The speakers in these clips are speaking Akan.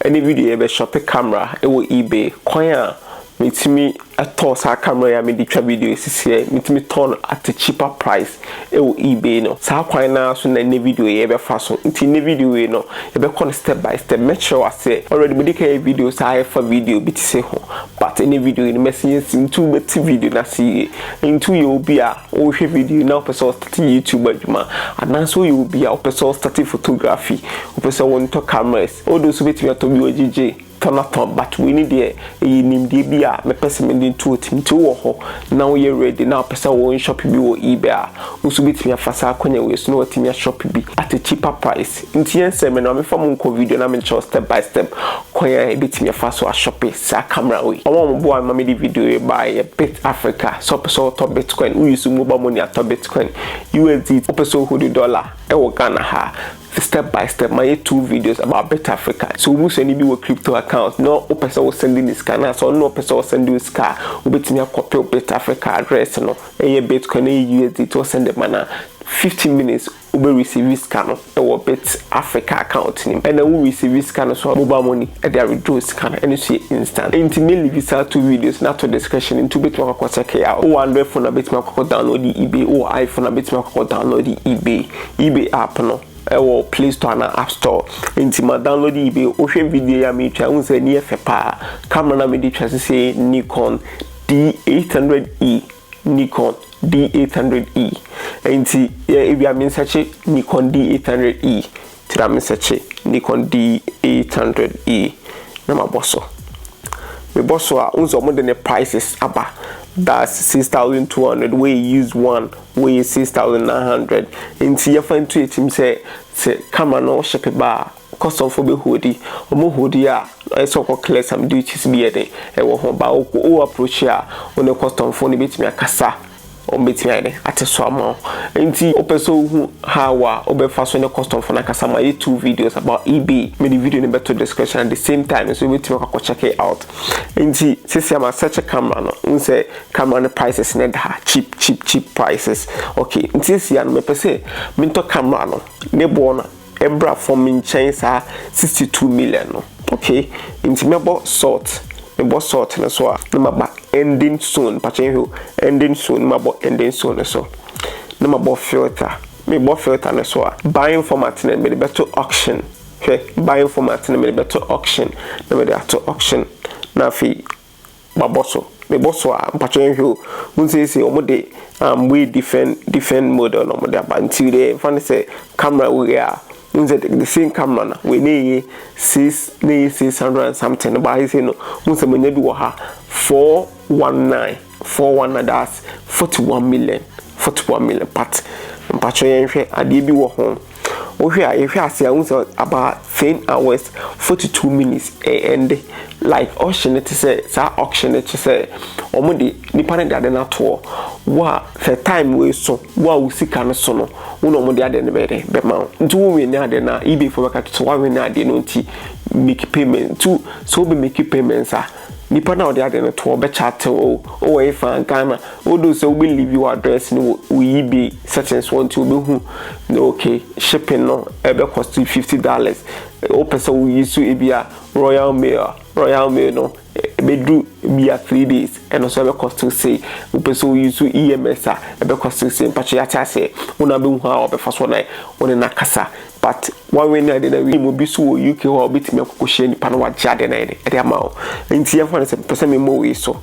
ne video yɛ bɛ shɔpe camera wɔ ebay kwan a metumi tɔɔ saa camera yi a mede twa video yi sisiɛ metumi tɔɔ no at a cheaper price wɔ ebay no saa kwan no ara so na nnɛ video yi bɛfa so nti nnɛ video wei no yɛbɛkɔ no step by step mɛkyerɛ wo aseɛ already mede ka yɛ videos a ɛfa video bi te sɛ ho but nnɛ video yi no mɛse yɛnsi nti wobɛte video no ase yie nti woyɛ obi a wohwɛ video yi na wopɛ sɛ ɔstate youtube adwuma anaasɛ woyɛ obi a wopɛ sɛ ɔstate photography wopɛ sɛ wontɔ camera Odo nso bɛtumi atɔ bi wɔ gyegye tɔnatɔn but wei ne deɛ ɛyɛ nimdeɛ bi a mɛpɛ sɛ mede nto wo tirim nti wo wɔ hɔ na wo yɛ ready na wo pɛ sɛ wo nshop bi wɔ ebay a wo nso bɛtumi afa saa akwanya wei so na watumi ashop bi at a cheaper price nti yɛn sɛ me no ma me fa mo nkɔ video na me nkyerɛ wo step by step kwan a yɛbɛtumi afa so ashope saa camera wei wɔn a wɔn boa me ma mede video wei baeɛ yɛ bit africa sɛ wo pɛ sɛ wo tɔ bitcoin wo use mobile money atɔ bitcoin usdt wo pɛ sɛ wo hold dollar ɛwɔ Ghana ha. Step by step mayɛ two videos about Bitafrica sɛ wo busuani bi wɔ crypto account na wopɛ sɛ wo sɛnde no sika anaasɛ ɔno na ɔpɛ sɛ ɔsɛnde wo sika a wobɛtumi akɔpɛw Bitafrica address no ɛyɛ Bitcoin ɛyɛ USDT ɔsɛnde ma no a fifteen minutes wobɛ receive sika no wɔ Bitafrica account no mu ɛna wo receive sika no nso a mobile money ɛde a withdraw sika no ɛno nso yɛ instant nti mɛ leave saa two videos no ato description nti wobɛtumi akɔ akɔ check it out wowɔ Android phone a wobɛtumi akɔ akɔ download ebay wowɔ iPhone a wobɛtumi akɔ akɔ download ebay. Ebay app no wɔ play store anaa app store nti ma download ebay wohwɛ video yi a meretwa wohu sɛ ani yɛ fɛ paa camera no a mede twa sesei Nikon D800E Nikon D800E nti yɛ ebia me nsɛkye Nikon D800E nti na me nsɛkye Nikon D800E na mabɔ so mebɔ so a wohu sɛ wɔde ne prices aba that's 6200 wei yɛ used one Wɔyɛ six thousand nine hundred nti yɛfa ntu akyim sɛ sɛ camera no wo ship ba a custom fo bɛ hoodi ɔmo hoodi a ayɛ sɛ ɔkɔ clear some duties bi yɛ den ɛwɔ ho ba wo wo approach a wo ne custom fo no bɛtumi akasa ɔmo bɛtumi ayɛ den ate so ama wo nti wopɛ sɛ wo hu how a wo bɛ fa so ne custom fo no akasa ma yɛ two videos about ebay me de video no bɛ to description at the same time nso wo bɛtumi akɔ akɔ check it out nti sisi a ma search camera no wo hu sɛ Camera no prices no da ha cheap cheap cheap prices ok nti seya no mepɛ sɛ mentɔ camera no ne boɔ no ɛbra fɔm menkyɛn saa 62 million no ok nti mɛbɔ salt mebɔ salt no so a ne maba ending soon mpakyɛ nhwɛ o ending soon ne mabɔ ending soon no so ne mabɔ filter mebɔ filter no so a buying format no mede bɛto auction hwɛ buying format no mede bɛto auction na mede ato auction na afei mabɔ so mebɔ so a mpakyɛw yɛnhwɛ o wohu seesei wɔn de um, wei different different model na wɔn de aba nti deɛ yɛmfa no sɛ camera wei a wohu sɛ the same camera na wei na ɛyɛ six na ɛyɛ six hundred and something no baa seesei no wohu sɛ manya bi wɔ ha four one nine four one nine that's forty one million forty one million but mpakyɛw yɛnhwɛ adeɛ bi wɔ ho. Wohwɛ a yɛhwɛ ase a wohu sɛ about ten hours forty two minutes ɛnde like auction no te sɛ saa auction no te sɛ wɔn de nipa no de ade no atoɔ wo a sɛ time wei so wo a wo sika no so no wo na wɔn de ade no bɛyɛ dɛ bɛma wo nti wo win ne ade no a ebay fo bɛka to sɛ wa win ne ade no nti make payment nti sɛ wo bɛ make payments a. Nipa no a ɔde ade no toɔ bɛ chat wo o wɔ efa Ghana o do sɛ wo bɛ leave wo address no wɔ wo ebay settings hɔ nti ɔbɛ hu na ok shipping no ɛbɛ cost you fifty dollars wo pɛ sɛ wo use ebi a royal mail a royal mail no ɛbɛ duru bi a three days ɛno nso ɛbɛ cost you sei wo pɛ sɛ wo use EMS a ɛbɛ cost you sei mpakyɛ yate aseɛ wo na bɛ hu a ɔbɛ fa so na wo ne na kasa But wɔawe no ɛde na wi mu bi so wɔ UK hɔ a wobɛtumi akɔ kɔhyia nipa no wagye adeɛ no ayɛ ɛde ama wo nti yɛmfa no sɛ mepɛ sɛ memmɔ wei so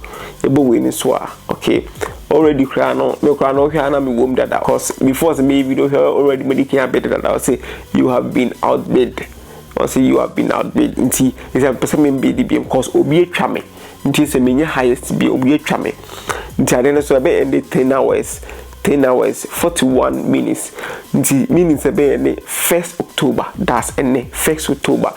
yɛbɔ wei no so a okay already koraa no me koraa no wohwɛ a na mewɔ mu dada cause before sɛ meyɛ video hwɛ already mede kan abɛde dada ɔse you have been outbid ɔse you have been outbid nti ɛsɛ mepɛ sɛ membɛdi biom cause obi atwa me nti sɛ menyɛ highest bi obi atwa me nti adeɛ no so ɛbɛ ɛnde ten hours Ten hours, forty one minutes, nti meaning sɛ ɛbɛyɛ ne first October, that's ɛnnɛ, first October,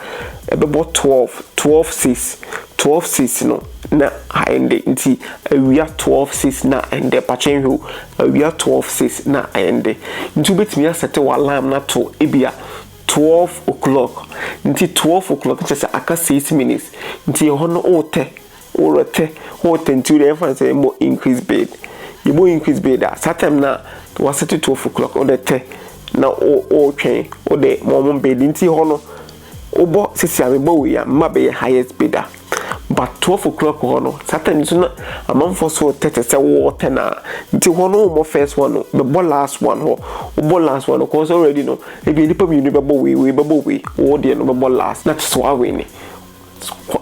ɛbɛbɔ twelve, twelve six, twelve six no na aɛnde, nti awia twelve six na aɛndɛ, mpakyɛ nhwɛ o, awia twelve six na aɛndɛ, nti wobɛtumi asɛte w'alarm no ato ebia twelve o'clock, nti twelve o'clock no kyerɛ sɛ aka six minutes, nti ɛhɔ no wotɛ wo rete wo tɛntiw dɛ yɛmfa no sɛ yɛbɔ increase bid yɛbɔ increase bid a saa time no a wɔasete twelve o'clock wode te na wotwɛn wode ma wɔn bid nti hɔ no wobɔ sisi a mebɔ wei a mma bɛyɛ highest bidder but twelve o'clock hɔ no saa time nso na amanfoɔ so te te sɛ wɔretɛ no a nti hɔ no wommɔ first one no bɛbɔ last one hɔ wobɔ last one no kɔɔ sɛ already no ebi nnipa mmienu bɛbɔ wei wei bɛbɔ wei wɔdeɛ no bɛbɔ last na kyɛ sɛ wawene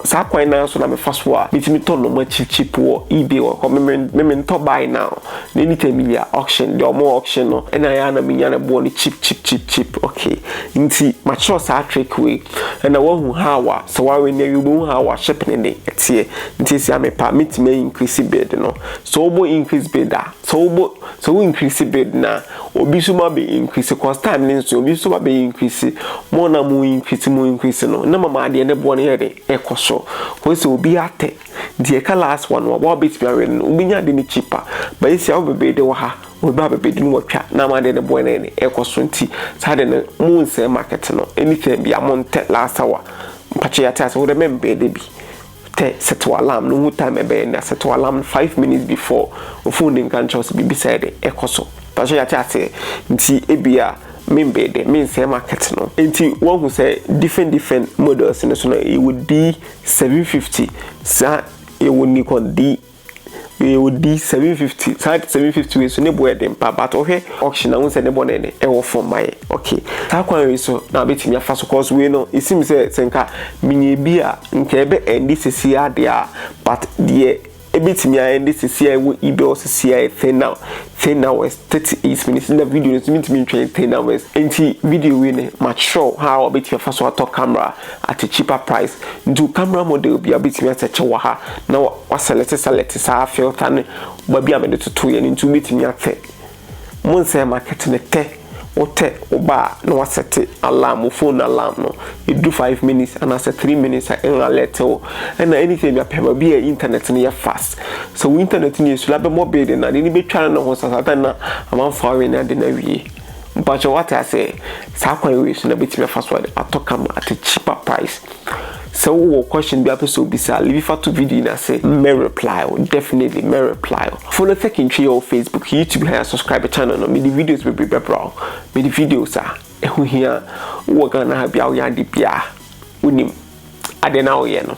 Saa kwan no ara so na mefa so a metumi tɔ nnoɔma cheap cheap wɔ ebay wɔ hɔ. Me mentɔ buy now na anytime menya auction deɛ ɔmo auction no ɛna ɛyɛ a na menya ne boɔ no cheap cheap cheap cheap okay nti makyerɛw saa trick wei ɛna wahu how a sɛ wa win awie wobɛhu how a shipping no de ɛteɛ nti seesei a mepɛ a mɛtumi a increase bid no sɛ wobɔ increase bid a Sɛ wobɔ sɛ wo increase bid no a, obi nso ma bɛ increase cause time no nso obi nso ma bɛ increase. Mo na mo increase mo increase no na mama adeɛ no boɔ no yɛ den ɛkɔ soro. Cause sɛ obi atɛ deɛ ɛka last one no a wobɛtumi awɛn no wobɛnya ade no cheaper. But seesei a wobɛ bid wɔ ha obi ba abɛ bid no watwa na ama adeɛ no boɔ no ayɛ den ɛkɔ soro nti saa adeɛ no mo nsɛe market no anytime biara montɛ last hour. Mpakyɛ yɛate aseɛ wode memmɛɛdɛ bi. Tɛ set wo alarm no hu time ɛbɛyɛ na set wo alarm no five minutes before wo phone nka nkyerɛ wo sɛ biribi sɛɛ de ɛkɔ so mpakyɛw yɛate aseɛ nti ebia membɛɛ dɛ mensɛɛ market no nti woahu sɛ different different models no so no yɛwɔ D seven fifty saa yɛwɔ Nikon D Yɛ odi seven fifty saa seven fifty wei so ne boɔ yɛ den paa but ɔhwɛ auction a wohu sɛ ne boɔ no yɛ den ɛwɔ fam ma yɛ okay saa kwan wei so na abɛtumi afa so cause wei no esim sɛ sɛ nka menya ebi a nka ɛbɛ ɛndi sisi adeɛ a but deɛ ebɛtumi a ɛndi sisi a ɛwɔ idɔ sisi a yɛ ten now ten hours thirty eight minutes na video no so mintumi ntwɛn ten hours nti video wei ne ma kyerɛw ha a ɔbɛtumi afa so atɔ camera at a cheaper price nti camera model bi a ɔbɛtumi asɛ kyɛ wɔ ha na Wɔasɛlɛte sɛlɛte saa filter no ba bi a mede totoeɛ no nti wobɛtumi atɛ mo nsɛɛ market no tɛ wotɛ woba a na wasɛte alarm wo phone alarm no ɛduru five minutes anaasɛ three minutes a ɛn alert wo ɛna anytime bi apɛ baabi a internet no yɛ fast sɛ wo internet no yɛ slow abɛmmɔ bid no ade no bɛtwa no ne ho sa saa time no a amanfoɔ awe no ade no awie mpakyɛw wate aseɛ saa kwan wei so na bɛtumi afa so atɔ kama at a cheaper price. Sɛ wo wɔ question bi a wopɛ sɛ wo bisa a Livi fa to video yi na se mɛ reply wo definitely mɛ reply wo. Follow Thekintwe yɛ wɔ Facebook, YouTube he a subscribe channel no mede videos bebree bɛbra wo mede videos a ɛho hia wo wɔ Ghana ha bia wo yɛ ade bia wo nim adeɛ na wo yɛ no.